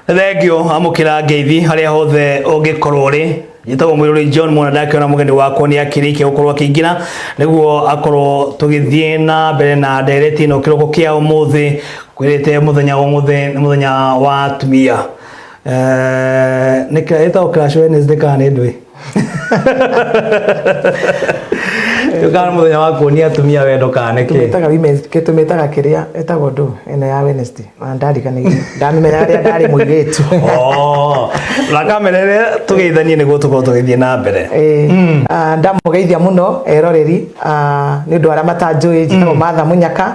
thengio amukira ngeithi haria hothe ungikorwo ri njĩtagwo mwĩrũri john mwana ndakĩona mũgeni wakwa nĩ akĩrĩkia gũkorwo akĩingĩra nĩguo akorwo tũgĩthiĩ na mbere na ndereti ĩno kĩroko kĩa ũmũthĩ kwĩrĩte mũthenya ũmũthĩ nĩ mũthenya wa atumia Eh, nĩ kĩragĩtagwo Clash Wednesday kana nĩ ndũĩ tukana muthenya wa kuonia atumia wendo kana niki tumetaga women's ke tumetaga kiria etagwo ndu ene ya Wednesday na ndarikanirie ndamenya ria ndari muiritu oh na kamera ria tugeithanie niguo tukorwo tugithie na mbere eh mm. ah, ndamugeithia muno eroreri ah, ni ndu aria matanjui njitagwo mm. matha munyaka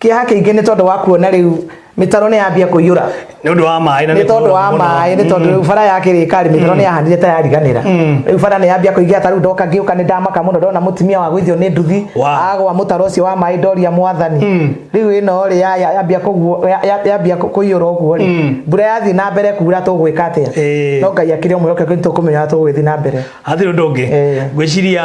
kĩeha kĩingĩ nĩ tondũ wa kuona rĩu mĩtaro nĩ yambia kũiyũra nĩ ũndũ wa maĩ na nĩ tondũ wa mũno. maĩ nĩ tondũ rĩu bara ya kĩrĩkarĩ mĩtaro nĩ yahanire ta yariganĩra rĩu bara nĩ yambia kũigĩa ta rĩu ndoka ngĩũka nĩ ndamaka mũno ndona mũtumia wa gũithio nĩ nduthi Wow. agwa mũtaro ũcio wa maĩ ndoria mwathani rĩu ĩno rĩ ya- ya- yambia kũguo- ya- ya- yambia kũ- kũiyũra ũguo rĩ mbura yathiĩ na mbere kuura tũgwĩka atĩa Ĩĩ. no ngai akĩrĩ ũmwe oke nĩ tũkũmenya ũrĩa tũgũgĩthiĩ na mbere hatirĩ ũndũ ũngĩ Eh. ngwĩciria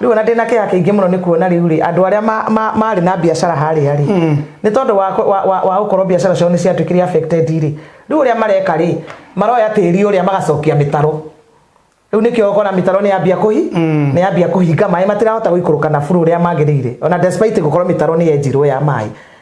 rĩu ona ndĩna kĩha kĩingĩ mũno nĩ kuona rĩu rĩ andũ arĩa ma- ma- marĩ na biacara harĩa rĩ nĩ tondũ wa kũ- wa- wa- wa gũkorwo biacara ciao nĩ ciatuĩkire affected rĩ rĩu ũrĩa mareka rĩ maroya tĩri ũrĩa magacokia mĩtaro rĩu nĩkĩo ũkona mĩtaro nĩ yambia kũhi nĩ yambia kũhinga maĩ matirahota gũikũrũka na buru ũrĩa magĩrĩire ona despite gũkorwo mĩtaro nĩ yenjirwo ya maĩ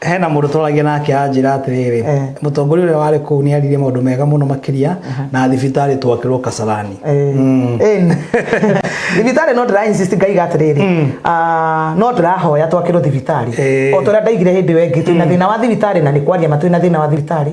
hena mũndũ twaragia nake anjĩra atĩrĩrĩ Eh. mũtongoria ũrĩa warĩ kũu nĩ aririe maũndũ mega mũno makĩria na thibitarĩ twakĩrwo kasarani Mm. Ĩn. thibitarĩ no ndĩra insist ngaiga atĩrĩrĩ ah, no ndĩrahoya twakĩrwo thibitarĩ Eh. o tũrĩa ndaigire hĩndĩ ĩyo ĩngĩ twĩna thĩna wa thibitarĩ na nĩ kwaria ma twĩna thĩna wa thibitarĩ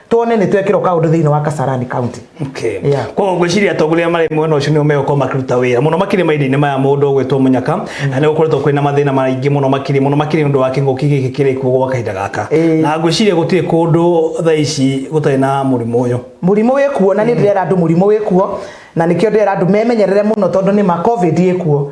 tuone nä twekä rwo kaå ndå thä inä wa kasarani kaunti Okay. Yeah. koguo ngwĩciria atongoria marĩ mwena ũcio nĩo megũkorwo makĩruta wĩra mũno makĩria mahinda-inĩ maya mũndũ ũgwĩtwo mũnyaka na nĩ gũkoretwo kwĩna mathĩna maingĩ mũno makĩria mũno makĩria nĩ ũndũ wa kĩng'ũki gĩkĩ kĩrĩ kuo gwa kahinda gaka Ĩĩ. na ngwĩciria gũtirĩ kũndũ thaa ici gũtarĩ na mũrimũ ũyũ må rimå wä kuo na nä ndärera andå må rimå wä kuo na nä kä o ndärera andå memenyerere må no tondå nä ma covid ä kuo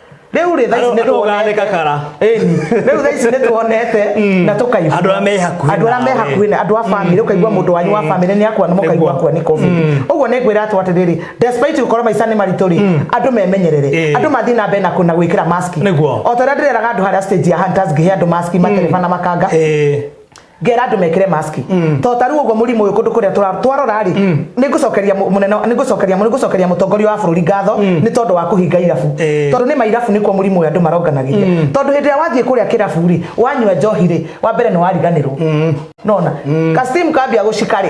rĩu rĩ thaici nĩ tũgane kakara ĩni rĩu thaici nĩ tuonete mm. na tũkaigua andũ arĩa me hakuhĩ andũ arĩa me hakuhĩ na andũ a mm. family ũkaigua mm. mũndũ wanyu wa family nĩ akwa nĩ mũkaigua kwa nĩ covid ũguo nĩ ngwĩra atũ atĩrĩrĩ despite gũkorwo maica nĩ maritũ rĩ andũ memenyerere eh. andũ mathiĩ na mbere na kũna gwĩkĩra mask o ta ũrĩa ndĩreraga andũ harĩa stage ya hunters ngĩhe andũ mask matereba na makanga eh. ngera andå mekire mask mm. to taru guo murimu uyu kundu kuria twarora ri mm. ni ngucokeria munene ni ngucokeria ni ngucokeria mutongoria wa bururi ngatho mm. ni tondu wa kuhinga irabu eh. tondu ni mairabu ni kwa murimu uyu andu maronganagiria tondu hindi ya wathie kuria kirabu ri wanyua njohi ri wa mbere ni wariganirwo nona kasim kambia gucika ri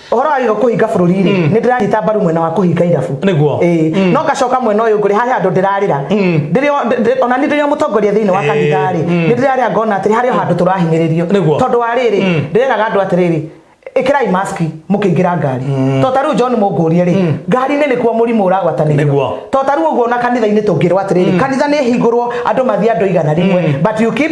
ũhoro wa gĩko kũhinga bũrũri-rĩ nĩ mm. ndĩranyita mbaru mwena wa kũhinga irabu nĩguo mm. no ngacoka mwena ũyũ ngũrĩ harĩ handũ ndĩrarĩra mm. ona nĩ ndĩrĩ mũtongoria thĩinĩ wa kanitha-rĩ nĩ ndĩrarĩa ngona atĩrĩ harĩ o handũ tũrahinyĩrĩrio tondũ wa rĩrĩ ndĩreraga andũ atĩrĩrĩ ikirai mask mukiingira ngari mm. to taru John mungurie ri mm. ngari ne nikuo murimu uragwatanirio to taru uguo na kanitha ini tungirwa atiri mm. kanitha ni hingurwo andu mathia andu igana rimwe mm. but you keep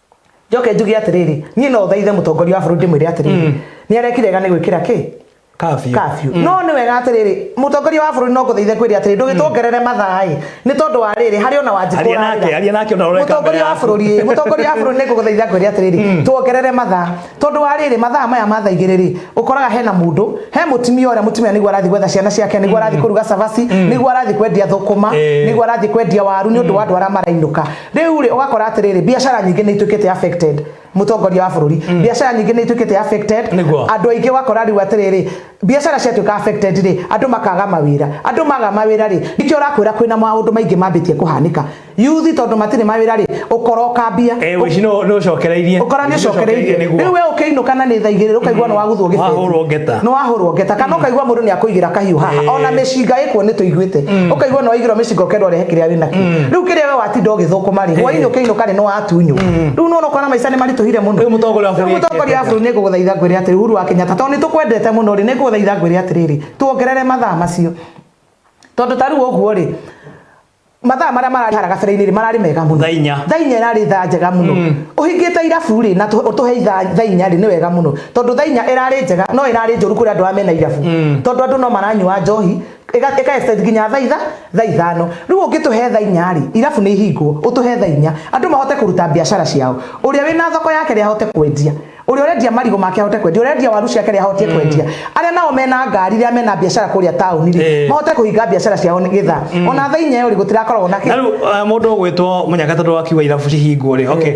njoke njuge atiriri nie no thaithe mutongoria wa bururi ndimwire atiriri mm. ni arekire ga ni gwikira ki kafyu kafyu mm. no ni wega atiriri mutongoria wa bururi no nguthaithe kwiri atiriri ndugitwongerere mm. mathai ni tondu wa riri hari ona wanji aria nake aria nake ona ureka mutongoria wa bururi mutongoria wa bururi ni nguguthaitha kwiri atiriri mm. twongerere matha tondu wa riri matha maya mathaigire ri ukoraga hena mundu he mutimia uria mutimia niguo arathi gwetha ciana ciake niguo arathi mm. kuruga cabaci mm. niguo arathi kwendia thukuma eh. niguo arathi kwendia waru ni undu wa andu aria marainuka Rĩu rĩ ũgakora atĩrĩrĩ biacara nyingĩ nĩ ituĩkĩte affected mũtongoria wa bũrũri mm. biacara nyingĩ nĩ ituĩkĩte affected andũ aingĩ wakora rĩu atĩrĩrĩ biacara ciatuĩka affected rĩ andũ makaga mawĩra andũ maga mawĩra rĩ nĩkĩo ũrakwĩra kwĩna maũndũ maingĩ mambĩtie kũhanĩka yuthi tondũ matirĩ mawĩra rĩ ũkora ũkambia eh, ũkora nĩ ũcokereirie rĩu we ũkĩinũka na nĩ thaa igĩrĩ ũkaigua mm. nĩ waguthwo gĩbeti nĩ wahũrwo ngeta kana mm. ũkaigua mũndũ nĩ akũigĩra kahiũ haha eh. ona mĩcinga ĩkuo nĩ tũiguĩte mm. ũkaigua nĩ waigĩrwo mĩcinga ũkendwo rehe kĩrĩa wĩnakĩo riu kiria we watinda ugithukuma ri hwaini ukiinuka ri ni watunyu riu nona ukona maica ni marituhire muno Rĩu mũtongoria wa bũrũri Rĩu mũtongoria wa bũrũri ni nguguthaitha ngwire atiri Uhuru wa Kenyatta tondu ni tukwendete muno ri ni nguguthaitha ngwire atiriri tuongerere mathaa macio tondu ta riu uguo ri mathaa maria marari hara gabere-inĩ rĩ mararĩ mega mũno Thaa inya. thaa inya ĩrarĩ thaa njega mũno ũhingĩte irabu rĩ na tũ- ũtũhe ithaa- thaa inya rĩ nĩ wega mũno tondũ thaa inya ĩrarĩ njega no ĩrarĩ njũru kũrĩ andũ arĩa mena irabu tondũ andũ no maranyua njohi ĩga ĩka extend nginya thaa itha thaa ithano rĩu ũngĩtũhe thaa inya rĩ irabu nĩ ihingwo ũtũhe thaa inya andũ mahote kũruta biacara ciao ũrĩa wĩna thoko yake rĩ ahote kwendia ũrĩa ũrendia marigũ make ahote kwendia ũrĩa ũrendia waru ciake rĩ ahote kwendia arĩa nao mena ngari rĩa mena biacara kũrĩa taũni rĩ Eh. mahote kũhinga biacara ciao nĩ gĩtha ona thaa inya ĩyo rĩ gũtirakoragwo na na kĩ rĩu eh, mũndũ ũgwĩtwo mũnyaka tondũ wakiuga irabu cihingwo rĩ okay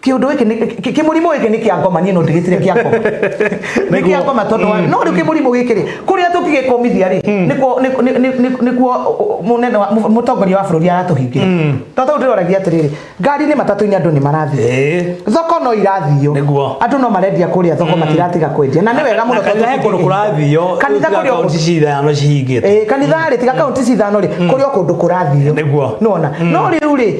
kiundu giki ni ki- kimurimu giki ni kia ngoma nie no ndigitire kia ngoma ni kia ngoma tondu wa no riu kimurimu giki ri kuria tukigikomithia ri nikuo ni- ni- ni- ni- nikuo munene wa- mu- mutongoria wa bururi aratuhingira tondu riu ndiragia atiriri ngari ni matatu-ini andu ni marathii Eh. thoko no irathio Nĩguo. andu no marendia kuria thoko matiratiga kwendia na ni wega muno kanitha he kundu kurathio kanitha kuria kaunti cithano cihingite Eh, kanitha rä tiga kaunti cithano rä kå rä o kå ndå kå rathio Nĩguo. nona no rä u rä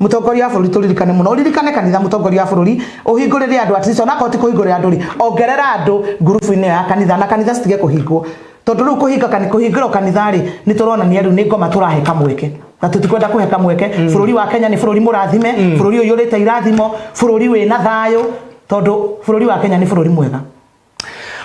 mutongoria wa bũrũri tũririkane mũno ũririkane kanitha mutongoria wa bũrũri ũhingũrĩre andũ at least onakorwo ti kũhingũrĩra andũ rĩ ongerera andũ ngurubu-inĩ ya kanitha na kanitha citige kũhingwo tondũ rĩu kũhinga kũhingĩrwo kanitha rĩ nĩ tũronania rĩu nĩ ngoma tũrahe kamweke na tutikwenda kũhe kamweke mm. bũrũri wa kenya nĩ bũrũri mũrathime mm. bũrũri ũyũ ũrĩte irathimo bũrũri wĩna thayũ tondũ bũrũri wa kenya nĩ bũrũri mwega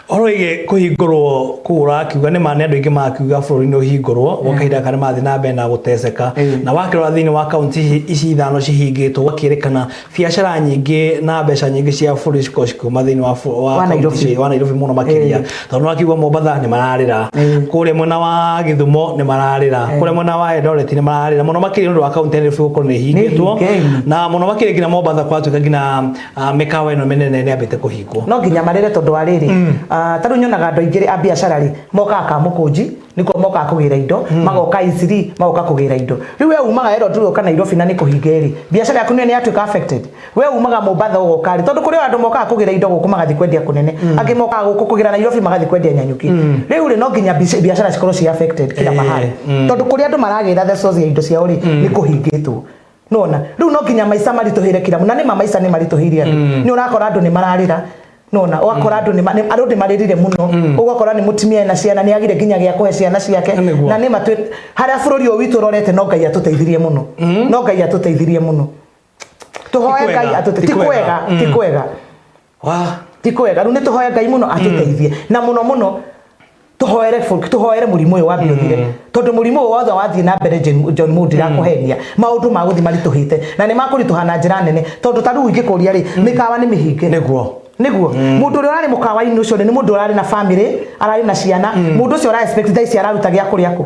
Horo ĩgĩ kũhingũrwo kũu ũrakiuga nĩ ma nĩ andũ aingĩ marakiuga bũrũri-inĩ ũhingũrwo gwa kahinda karĩa marathiĩ na mbere na gũteceka na wakĩrora thĩinĩ wa kaunti ici ithano cihingĩtwo gũgakĩrĩkana biacara nyingĩ na mbeca nyingĩ cia bũrũri cikorwo cikiuma thĩinĩ wa bũ- wa Wa kaunti Nairobi. ici- wa Nairobi mũno makĩria tondũ nĩ wakiuga Mombatha nĩ mararĩra kũrĩa mwena wa Gĩthumo nĩ mararĩra kũrĩa mwena wa Eldoret nĩ mararĩra mũno makĩria nĩ ũndũ wa kaunti ya Nairobi gũkorwo nĩ ihingĩtwo Nĩhinge. na mũno makĩria nginya Mombatha kũratuĩka nginya Ah, mĩkawa ĩno mĩnene nĩ ambĩte kũhingwo no nginya marĩre tondũ wa rĩrĩ mm. ah, tarĩu nyonaga andũ aingĩ a biacara rĩ mokaga ka mũkũnji nĩkuo mokaga kũgĩra indo mm. magoka iciri magoka kũgĩra indo rĩu we umaga ero tu ũka Nairobi na nĩ kũhinga ĩrĩ biacara yaku nĩ yatuĩka affected we umaga Mombasa ũgoka rĩ tondũ kũrĩ andũ mokaga kũgĩra indo gũkũ magathiĩ kwendia kũnene mm. angĩ mokaga gũkũ kũgĩra Nairobi magathiĩ kwendia Nyanyuki rĩu rĩ no nginya biacara cikorwo ci affected kila eh, mahali tondũ kũrĩ andũ maragĩra the source ya indo ciao rĩ nĩ kũhingĩtwo nona riu no nginya maica maritũhĩre kira na nä ma maica nä maritũhĩire andå mm. nä å rakora andå nä mararä ra nona wakora andu mm. andu ni maririre muno mm. ugakora ni mutimia na ciana ni agire ginya gya kuhe ciana ciake na ni matwe haria bururi uyu witu rorete no ngai atuteithirie muno mm. no ngai atuteithirie muno tuhoe ngai atute ti kwega ti kwega Wa, ti kwega riu nituhoya ngai muno atuteithie na muno muno tuhoere folk tuhoere murimu uyu wambe uthire tondu murimu uyu wothe wathie na mbere Jen- John Moody rakuhenia maundu ma guthi marituhite na ni makurituha na njira nene tondu ta riu ingikuria ri mikawa ni mihinge Nĩguo. niguo mundu uria urari mukawa-ini ucio ni mundu urari na family arari na ciana mundu ucio ara expect thaa ici araruta gia kuria ku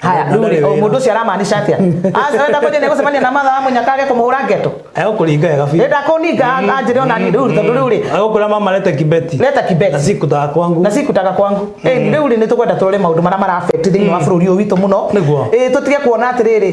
haya Na ndũrĩ ndũrĩ o wĩra. mũndũ ũcio aramaanisha atĩa arenda kwenja nĩ gũcemania na mathaa amwe nyakage kũmũhũra ngeto egũkũringa wega biũ renda kũninga anjĩre ona niĩ rĩu tondũ rĩu rĩ egũkũra mama leta kibeti leta kibeti na sikutaga kwangu na sikutaga kwangu Eh, rĩu rĩ nĩ tũkwenda tũrore maũndũ marĩa marabeti thĩinĩ wa bũrũri ũyũ witũ mũno Nĩguo. Eh, tũtige kuona atĩrĩrĩ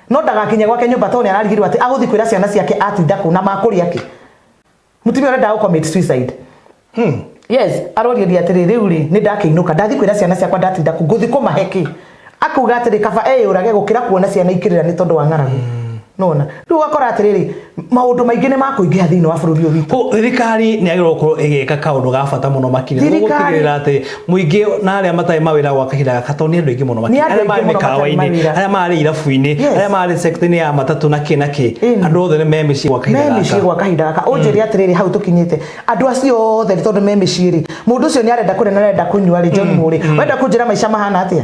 No ndagakinye gwake nyumba to ni ararigirwo ati aguthi kwira ciana ciake atinda ku na makuria ki. Mutumia ore ndago commit suicide. Hmm. Yes, aroria dia atiri riu ri ni ndakiinuka ndathi kwira ciana ciakwa ndatinda ku guthi kumahe ki. Akuga atiri kaba eyurage gukira kuona ciana ikirira ni tondu wa ng'aragu. Hmm. Nona. Riu akora atiri maundu maingi ni makuingiha thiini wa bururi uyu witu Ko- thirikari nä agä korwo ä gä ka kaå ndå ga bata må no makiri Thirikari- gũtigĩrä ra atä muingä na arä a matarä mawä ra gwa kahinda gaka tondå nä andå aingä må no Nĩ andũ arä aingĩ marä mũno matarĩ makawa-inä mawĩra. arä a mararä irabu-inä Yes. arä a mararä sekta-inä ya matatå na kä na kä Ĩni. andå othe nä me mä ciä gwa kahinda me mĩciĩ gaka gwa kahinda gaka ũnjĩre atĩrĩrĩ hau tũkinyĩte andũ acio othe nĩ tondũ me mĩciĩ rĩ mũndũ ũcio nĩ arenda kũrĩa na arenda kũnyua rĩ John Mũrĩ wenda kũnjĩra maica mahana atĩa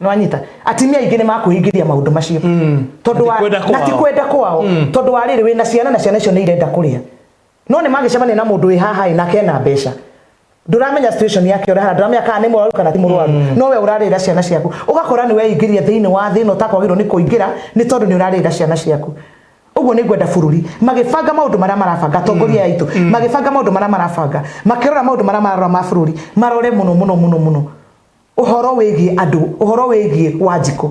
nĩwanyita atimia aingĩ nĩ makũhingithia maũndũ macio mm. tondũ wa na ti kwenda kwao mm. tondũ wa rĩrĩ wĩna ciana na ciana icio nĩ irenda kũrĩa no nĩ magĩcemania na mũndũ wĩ haha na kena mbeca nduramenya situation yake ora nduramenya kana ni mwaru kana ti murwaru mm. no we urarira ciana ciaku ugakora ni we ingiria thiini wa thina utakwagirwo ni kuingira ni tondu ni urarira ciana ciaku uguo ni ngwenda bururi magibanga maundu maria marabanga tongoria mm. yaitu mm. magibanga maundu maria marabanga makirora maundu maria mararora ma bururi marore muno muno muno muno ũhoro wĩgiĩ andũ ũhoro wĩgiĩ wanjikũ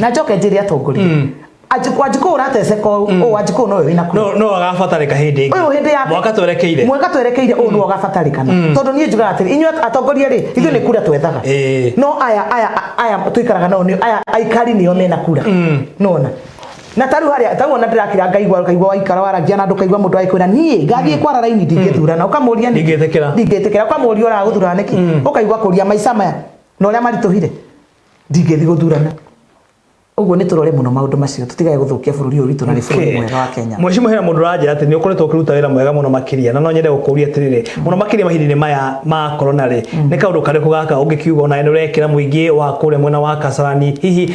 na njoke njĩre atongoria mm. Anjikũ anjikũ urateceka ũũ mm. anjikũ no wĩna kuru. No no agabatarika hindi ingi. Uyu hindi yake. Mwaka twerekeire. Mwaka twerekeire uyu no mm. agabatarikana. Mm. Tondu nie njugaga atiri inyuĩ atongoria ri ithuĩ ni kura twethaga. No aya aya aya tuikaraga nao ni aya aikari nio mena kura. Nona. na taru haria tau ona ndirakira ngaigwa kaigwa waikara waragia na ndukaigwa mundu agikwira nie ngathie mm. kwara raini ndingithurana mm. ukamuria ni ndingitikira ndingitikira ukamuria ora guthurana niki mm. ukaigwa kuria maica maya na uria marituhire ndingithi guthurana uguo ni turore muno maundu macio tutigage guthukia bururi uyu witu na ni bururi mwega wa Kenya mheshimiwa hena mundu ranja ati ni ukoretwo ukiruta wira mwega muno makiria na no nyende gukuria atiriri muno makiria mahinda-ini maya ma corona ri ni kaundu kariku gaka ungikiuga ona ni urekira muingi wa kuria mwena wa Kasarani hihi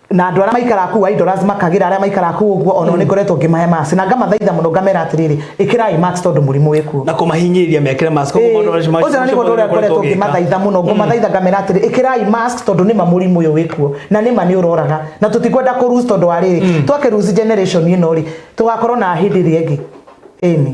na andå arä a maikara kuu idolas makagä ra arä a maikara kuu å guo ona nä ngoretwo ngä mahe maci na ngamathaitha må no ngamera atä rä rä ä kä rai tondå må rimå wä kuo na kå mahinyä mekere mask koguo maũndũ macio macio- ũcio nĩ macio mũndũ ũrĩa maũndũ ngoretwo ũgĩka. ngĩmathaitha mũno ngũmathaitha ngamera atĩrĩ ĩkĩrai mask tondũ nĩma mũrimũ ũyũ wĩkuo na nĩma nĩ ũroraga na tũtikwenda kũ lose tondũ wa rĩrĩ twakĩ lose generation ĩno rĩ tũgakorwo na hĩndĩ ĩrĩa ĩngĩ ĩni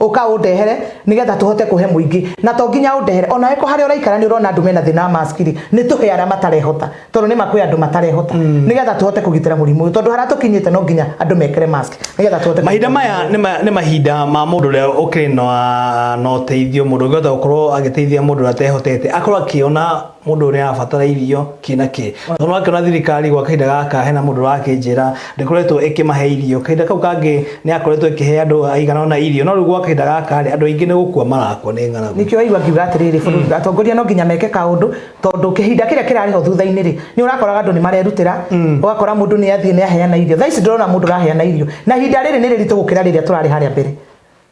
Ũka ũndehere nĩgetha tũhote kũhe mũingĩ na to nginya ũndehere ona weko harĩa ũraikara nĩ ũrona andũ mena thĩna wa mask rĩ nĩ tũhe arĩa matarehota tondũ nĩ ma kwĩ andũ matarehota mm. nĩgetha tũhote kũgitĩra mũrimũ ũyũ tondũ harĩa tũkinyĩte no nginya andũ mekĩre mask nĩgetha tũhote mahinda maya nĩ mahinda ma mũndũ ũrĩa ũkĩrĩ na ũteithio mũndũ ũngĩhota gũkorwo agĩteithia mũndũ ũrĩa atehotete akorwo akĩona mũndũ ũrĩa arabatara irio kĩ na kĩ no akĩona thirikari gwa kahinda gaka hena mũndũ ũrakĩnjĩra ndĩkoretwo ĩkĩmahe irio kahinda kau kangĩ nĩ yakoretwo ĩkĩhe andũ aigana ona irio no rĩu gwa kahinda gaka rĩ andũ aingĩ nĩ gũkua marakua nĩ ng'aragu nĩkĩo waigua ngiuga atĩrĩrĩ bũrũri atongoria no nginya meke kaũndũ tondũ kĩhinda kĩrĩa kĩrarĩ ho thutha-inĩ rĩ nĩ ũrakoraga andũ nĩ marerutĩra ũgakora mũndũ nĩ athiĩ nĩ aheana irio thaa ici ndũrona mũndũ ũraheana irio na ihinda rĩrĩ nĩ rĩritũ gũkĩra rĩrĩa tũrarĩ harĩa mbere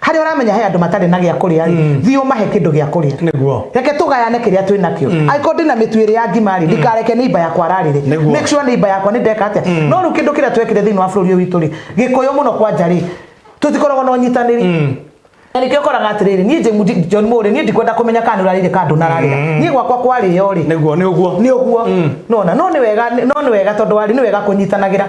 harĩa ũramenya he andũ matarĩ na gĩa kũrĩa rĩ mm. thiĩ ũmahe kĩndũ gĩa kũrĩa nĩguo reke tũgayane kĩrĩa twĩ nakĩo mm. angĩkorwo ndĩ na mĩtu ĩrĩ ya ngima rĩ mm. ndikareke nĩ iba yakwa ararĩre make sure nĩ iba yakwa nĩ ndeka atĩa no rĩu kĩndũ kĩrĩa twekire thĩinĩ wa bũrũri ũyũ witũ rĩ gĩkũyũ mũno kwanja rĩ tũtikoragwo na ũnyitanĩri na nä kä koraga atä rä rä niä john må rä niä ndikwenda kå menya kana nä å rarä rä kandå nararä mm. niä gwakwa kwarä yo rä nä å guo nä å guo mm. nona no nä wega tondå warä nä wega kå nyitanagä ra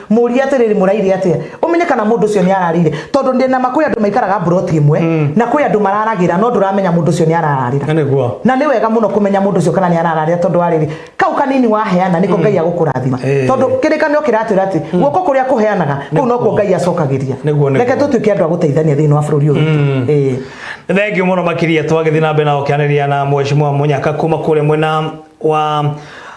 murie atiriri muraire atia umenye kana mundu ucio ni ararire tondu ndi na makuri andu maikaraga broti imwe mm. na kwi andu mararagira no nduramenya mundu ucio ni arararira na ni wega muno kumenya mundu ucio kana ni arararira tondu ariri kau kanini waheana niko mm. ngai agukurathima eh. tondu kirikanio kiratwira ati mm. guoko kuria kuheanaga kuu no kuo ngai acokagiria reke tutuike andu aguteithania thiini wa bururi uyu mm. eh. thengiu muno makiria twagithii na mbere na gukianiria na mweshimua munyaka kuma kuria mwena wa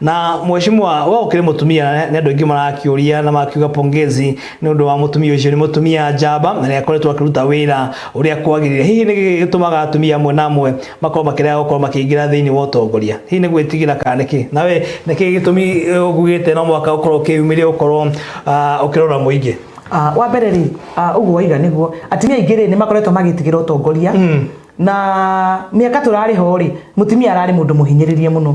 Na mheshimiwa we ukiri mutumia ni andu aingi marakiuria na makiuga pongezi ni undu wa mutumia ucio ni mutumia njamba na ni akoretwo akiruta wira uria kwagirire hihi ni gitumaga atumia amwe na amwe makorwo makirega gukorwo makiingira thiini wa utongoria hihi ni gwitigira kana niki nawe niki gitumi ugugite no mwaka ukorwo ukiyumiria ukorwo ah, ukirora muingi Ah, wa mbere rĩ ah, ũguo waiga nĩguo atumia aingĩ rĩ nĩ makoretwo magĩtigĩra ũtongoria na mĩaka tũrarĩ ho rĩ mũtumia ararĩ mũndũ mũhinyĩrĩrie mũno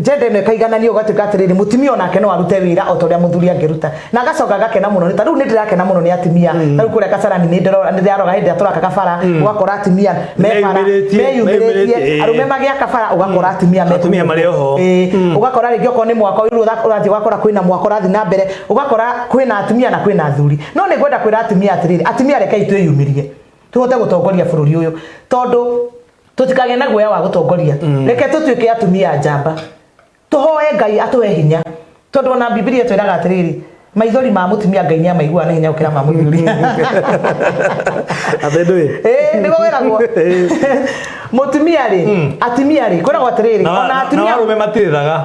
njenda ĩno ĩkaigananio ũgatuĩka atĩrĩrĩ mũtumia onake no arute wĩra o ta ũrĩa mũthuri angĩruta na agacoka agakena mũno nĩ ta rĩu nĩ ndĩrakena mũno nĩ atumia mm. ta rĩu kũrĩa kacarani nĩ ndĩrora nĩ ndĩraroga hĩndĩ ĩrĩa tũraka kabara mm. ũgakora atumia me bara meyumĩrĩtie arũme magĩaka bara ũgakora mm. atumia atumia marĩ oho ũgakora rĩngĩ okorwo nĩ mwako rĩu ũrathiĩ ũgakora kwĩna mwako ũrathiĩ na mbere ũgakora kwĩna atumia na kwĩna athuri no nĩ ngwenda kwĩra atumia atĩrĩrĩ atumia rekei twĩyumĩrie tũhote gũtongoria bũrũri ũyũ tondũ tũtikagĩa na guoya wa gũtongoria reke tũtuĩke atumia njamba tũhoe ngai atũhe hinya tondũ ona bibilia twĩraga atĩrĩrĩ maithori ma mutumia ngai nä amaiguaga nä hinya gå kä ra ma må thuri nä gå geragwo må tumia rä atumia rä kwä ragwo atä rä rä ona atumia matirä thaga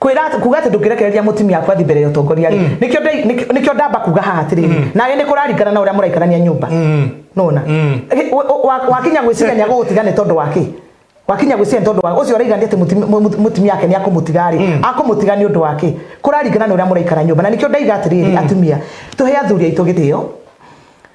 kwira kuga ati ndungirekereria mutimia aku athi mbere ya utongoria ri mm. nikio nikio ndamba kuga haha atiri mm. na ni kuraringana na uria muraikarania nyumba mm. nona wakinya gwiciria ni agugutiga ni tondu waki wakinya gwiciria ni tondu waki ucio uraigani ati mutimia ake ni akumutiga ri akumutiga ni undu waki kuraringana na uria muraikara nyumba na nikio ndaiga atiri atumia tuhe athuri aitu githio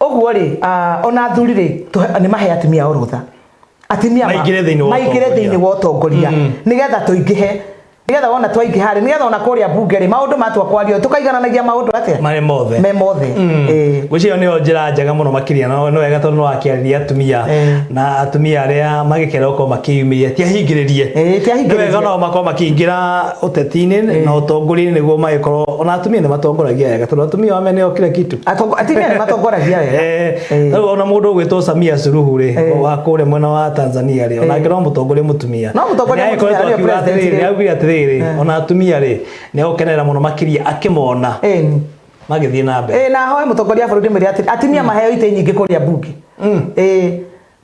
ũguo rĩ ah, ona athuri rĩ tũhe- nĩ mahe atumia orũtha atumia ma- Maingĩre thĩinĩ wa maingĩre ũtongoria. thĩinĩ wa ũtongoria nĩgetha tũingĩhe nĩgetha wona twaingĩha rĩ nĩgetha ona kũrĩa mbunge rĩ maũndũ matua kwario tũkaigananagia maũndũ atĩa marĩ mothe me mothe Eh. gwĩciria nĩyo njĩra njega mũno makĩria no nĩ wega tondũ nĩwakĩarĩria atumia Eh. na atumia arĩa magĩkera gũkorwo makĩyumĩria tiahingĩrĩrie Eh, tiahingĩrĩrie. nĩ wega nao makorwo makĩingĩra ũteti-inĩ na ũtongoria-inĩ nĩguo magĩkorwo ona atumia nĩ matongoragia wega tondũ atumia wame nĩo kila kitu Atongo- atumia nĩ matongoragia wega Eh, Eh. rĩu ona mũndũ ũgwĩtwo Samia Suluhu rĩ Eh. wa kũrĩa mwena wa Tanzania rĩ onake no mũtongoria mũtumia No mũtongoria Na nĩ mũtumia, agĩkoretwo nĩwe akiuga president atĩrĩrĩ rĩ. augire atĩrĩrĩ Eh. ona atumia rĩ nĩ agũkenerera mũno makĩria akĩmona Eh, ni. magĩthiĩ na mbere Eh, na hoe mũtongoria wa bũrũri mwĩre atĩ atumia maheo itĩ nyingĩ kũrĩa mbunge Eh,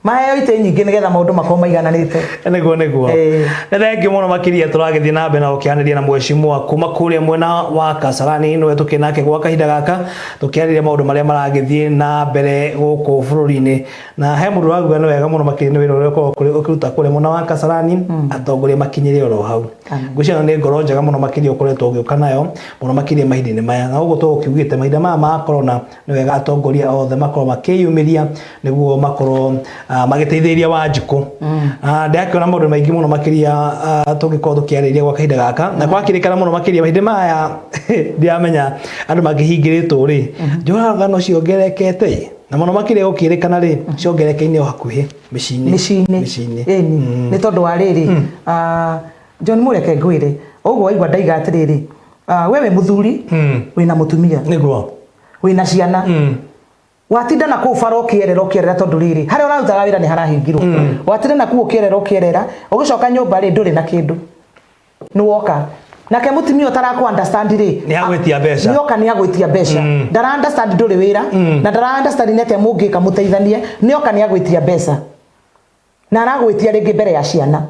maheo itĩ nyingĩ nĩgetha maũndũ makorwo maigananĩte nĩguo nĩguo Eh. nĩ thengiũ mũno makĩria tũragĩthiĩ na mbere na gũkĩanĩria na mwecimua kuma kũrĩa mwena wa kasarani nĩwe tũkĩ nake gwa kahinda gaka tũkĩarĩria maũndũ marĩa maragĩthiĩ na mbere gũkũ bũrũri-inĩ na he mũndũ ũraguga nĩ wega mũno makĩria nĩ wĩra ũrĩa ũkoragwo kũrĩ- ũkĩruta kũrĩa mwena wa kasarani atongoria makinyĩre oro hau Amen. ngwĩciria ĩno nĩ ngoro njega mũno makĩria ũkoretwo ũgĩũka nayo mũno makĩria mahinda-inĩ maya na ũguo tũgũkiugĩte mahinda maya ma korona nĩ wega atongoria othe makorwo makĩyumĩria nĩguo makorwo ah, magĩteithĩrĩria wanjikũ mm. ah, ndĩrakĩona maũndũ maingĩ mũno makĩria ah, tũngĩkorwo tũkĩarĩria gwa kahinda gaka na gwakĩrĩkana mũno makĩria hĩndĩ maya ndiramenya andũ mangĩhingĩrĩtwo rĩ mm-hmm. njũraga no ciongerekete na mũno makĩria gũkĩrĩkana rĩ mm-hmm. ciongereke-inĩ o hakuhĩ mĩciĩ-inĩ mĩciĩ-inĩ mm. nĩ tondũ wa rĩrĩ mm. ah, John mũreke ngwĩre ũguo waigua ndaiga atĩrĩrĩ Ah, we wĩ mũthuri wĩna mũtumia nĩguo wĩna ciana watinda na kũu bara ũkĩerera ũkĩerera tondũ rĩrĩ harĩa ũrarutaga wĩra nĩ harahingirwo watinda na kuu ũkĩerera ũkĩerera ũgĩcoka nyũmba rĩ ndũrĩ na kĩndũ nĩ woka nake mũtumia ũtaraku understand rĩ Nĩ agwĩtia mbeca. nĩ oka nĩ agwĩtia mbeca ndara understand ndũrĩ wĩra na ndara understand nĩ atĩa mũngĩka mũteithanie nĩ oka nĩ agwĩtia mbeca na aragwĩtia rĩngĩ mbere ya ciana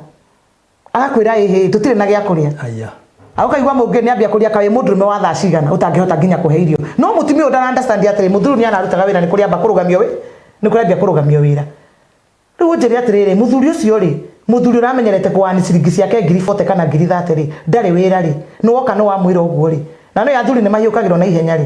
agakwĩra ĩhĩ tũtirĩ na gĩa kũrĩa aya akaigua mũngĩ nĩ ambia kũria kaĩ mũndũrũme wa thaa cigana ũtangĩhota nginya kũhe irio no mũtumia ũyũ ndara understand atĩrĩ mũthuri nĩ ararutaga wĩra nĩ kũrĩa amba kũrũgamio wĩ nĩ kũrĩa ambia kũrũgamio wĩra rĩu ũnjĩre atĩrĩrĩ mũthuri ũcio rĩ mũthuri ũramenyerete kũani ciringi ciake ngiri 40 kana ngiri 30 rĩ ndarĩ wĩra rĩ nĩ woka nĩ wamwĩra ũguo rĩ na nĩ athuri nĩ mahiũkagĩrwo na ihenya rĩ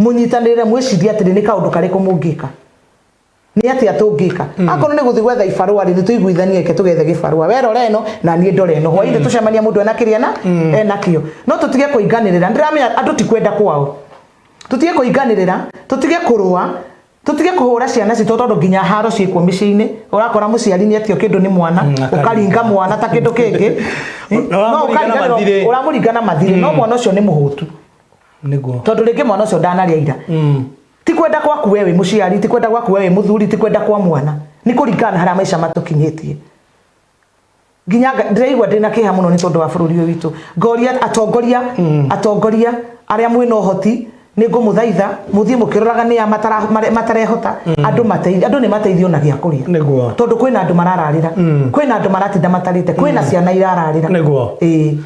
mũnyitanĩrĩre mwĩcirie atĩrĩ nĩ kaũndũ karĩkũ mũngĩka nĩ atia tũngĩka mm. akorwo nĩ gũthiĩ gwetha ibarũa rĩ nĩ tũiguithanie eke tũgethe gĩbarũa we rora ĩno na niĩ ndore ĩno hwainĩ mm. tũcemania mũndũ ena kĩrĩa na mm. enakĩo no tũtige kũinganĩrĩra ndĩramenya andũ ti kwenda kwao tũtige kũinganĩrĩra tũtige kũrũa tutige kuhura ciana citå tondå nginya haro ciäkwo mä ciä-inä å rakora må ciari nä atio kä ndå nä mwana mm, å karinga mwana ta kä ndå kä ngä å ramå ringa na mathirä no mwana å cio nä må hå tu nĩguo tondå rä ngä mwana å cio ndanarä ira mm. ti kwenda gwaku we wä må ciari ti kwenda gwaku we wä må thuri ti kwenda kwa mwana nä kå ringana na harä a maica matå kinyä tie nginya ndĩraigua ndĩna kĩha mũno nĩ tondũ wa bũrũri ũyũ witũ ngoria atongoria mm. atongoria arĩa mwĩna ũhoti nĩ ngũmũthaitha mũthiĩ mũkĩroraga nĩ ya matarehota mm. andũ mateithio andũ nĩ mateithio na gĩa kũrĩa nĩguo tondũ kwĩna andũ marararĩra mm. kwĩna andũ maratinda matarĩte kwĩna ciana irararĩra nĩguo ĩĩ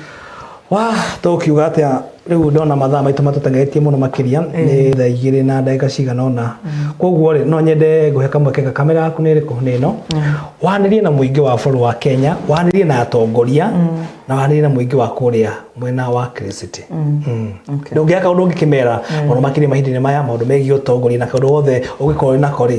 wa tũkiuga atĩa rĩu ndona mathaa maitũ matũtengeretie mũno makĩria nĩ thaa igĩrĩ na ndagĩka cigana ũna koguo rĩ no nyende ngũhe kamweke ga kamera yaku nĩ ĩrĩkũ nĩ ĩno wanĩrie na mũingĩ wa bũrũri wa kenya wanĩrie na atongoria na wanĩrie na mũingĩ wa kũrĩa mwena wa kiriciti Okay. ndũngĩaka ũndũ ũngĩkĩmera maũndũ makĩria mahinda-inĩ maya maũndũ megiĩ ũtongoria na kaũndũ wothe ũngĩkorwo wĩ nako rĩ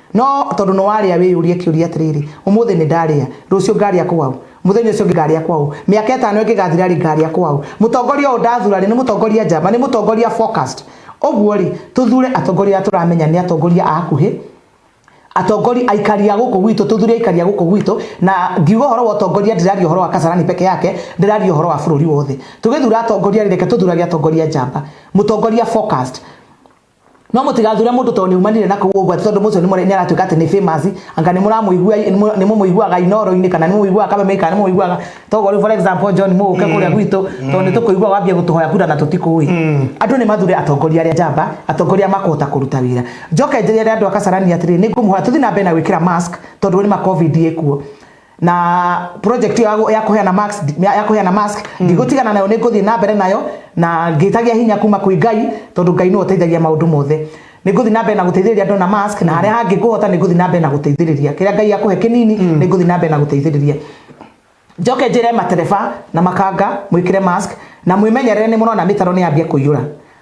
No tondũ nĩ warĩa wĩyũrie kĩũria atĩrĩrĩ, Ũmũthĩ nĩ ndarĩa, rũciũ ngarĩa kwaũ? Mũthenya ũcio ũngĩ ngarĩa kwaũ? Mĩaka ĩtano ĩngĩgathira rĩ, ngarĩa kwaũ? Mũtongoria ũyũ ndathura rĩ, nĩ mũtongoria njamba, nĩ mũtongoria focused. Ũguo rĩ, tũthure atongoria arĩa tũramenya nĩ atongoria a hakuhĩ, atongoria, aikari a gũkũ gwitũ, tũthure aikari a gũkũ gwitũ, na ngiuga ũhoro wa ũtongoria ndĩraria ũhoro wa Kasarani peke yake, ndĩraria ũhoro wa bũrũri wothe. Tũgĩthura atongoria rĩ, reke tũthurage atongoria njamba, mũtongoria focused. no mũtigathure mũndũ tondũ nĩ umanire na kũu ũguo atĩ tondũ mũcio nĩ mũre- nĩ aratuĩka atĩ nĩ famous anga nĩ mũramũigua nĩ mũmũiguaga inoro-inĩ kana nĩ mũmũiguaga kameme kana nĩ mũmũiguaga toguo rĩu for example John mũgũke kũrĩa gwitũ tondũ nĩ tũkũigua wambia gũtũhoya kura na tũtikũĩ andũ nĩ mathure atongoria arĩa njamba atongoria makũhota kũruta wĩra njoke njĩre andũ a Kasarani atĩrĩ nĩ ngũmũhoya tũthiĩ na mbere na gwĩkĩra mask tondũ nĩ ma covid ĩkuo na project ya ya kuheana max ya ya kuheana mask ndigutigana nayo ninguthiĩ na mbere nayo na ngĩtagia hinya kuma kwĩ ngai tondũ ngai nĩwe ũteithagia maũndũ mothe ninguthiĩ na mbere na gũteithĩrĩria andũ na mask na harĩa hangĩ ngũhota ninguthiĩ na mbere na gũteithĩrĩria kĩrĩa ngai akũhe kĩnini ninguthiĩ na mbere na gũteithĩrĩria njoke njĩre matereba na makanga mwĩkĩre mask na mwĩmenyerere nĩ mũrona mĩtaro nĩ yambia kũiyũra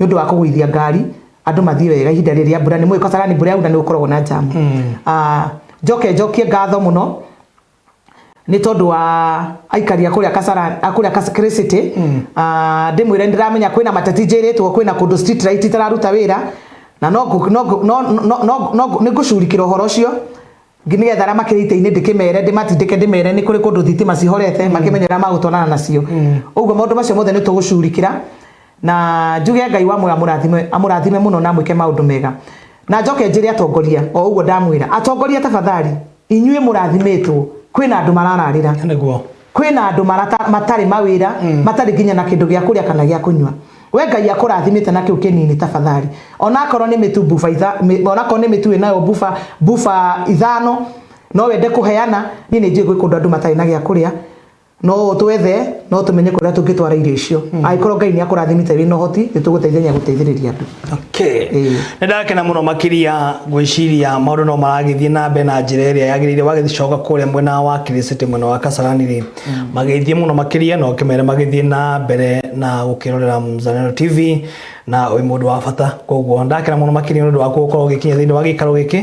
nĩ ũndũ wa kũgũithia ngari andũ mathiĩ wega ihinda rĩrĩ rĩa mbura nĩ mũĩ Kasarani mbura yaura nĩ gũkoragwo na jamu mm. uh, njoke njokie ngatho mũno nĩ tondũ wa aikari a kũrĩa Kasarani a kũrĩa Kasarani City mm. uh, ndĩmwĩre ndĩramenya kwĩna mateti njĩrĩtwo kwĩna kũndũ street light itararuta wĩra na no no no no no nĩ ngũcurikĩra ũhoro ũcio ngĩmenya thara makĩrĩ ita-inĩ ndĩkĩmere ndĩmatindĩke ndĩmere nĩ kũrĩ kũndũ thitima cihorete makĩmenya ũrĩa magũtwarana nacio ũguo maũndũ macio mothe nĩ tũgũcurikĩra na njuge ngai wa moya amũrathime amũrathime mũno na amwĩke maũndũ mega na njoke njĩre atongoria o ũguo ndamwĩra atongoria tafadhali inyuĩ mũrathimĩtwo kwĩna andũ marararĩra nĩguo kwĩna andũ marata matarĩ mawĩra mm. matarĩ nginya na kĩndũ gĩa kũrĩa kana gĩa kũnyua we ngai akũrathimĩte na kĩu kĩnini tafadhali onakorwo nĩ mĩtu buba onakorwo nĩ mĩtu ĩnayo buba buba ithano no wende kũheana niĩ nĩ njũĩ gwĩ kũndũ andũ matarĩ na gĩa kũrĩa no ũtwethe no tũmenye kũrĩa tũngĩtwara irio icio mm. angĩkorwo ngai nĩ akũrathimĩte wĩ na ũhoti nĩ tũgũteithania gũteithĩrĩria andũ Okay. Ĩĩ. Nĩ ndakena mũno makĩria gwĩciria maũndũ no maragĩthiĩ na mbere na njĩra ĩrĩa yagĩrĩire wagĩcoka kũrĩa mwena wa Kirisiti mwena wa Kasarani rĩ magĩthiĩ mũno makĩria na ũkĩmere magĩthiĩ na mbere na gũkĩrorera Mzalendo TV na wĩ mũndũ wa bata koguo ndakena mũno makĩria nĩ ũndũ wa gũkorwo ũgĩkinya thĩinĩ wa gĩikaro gĩkĩ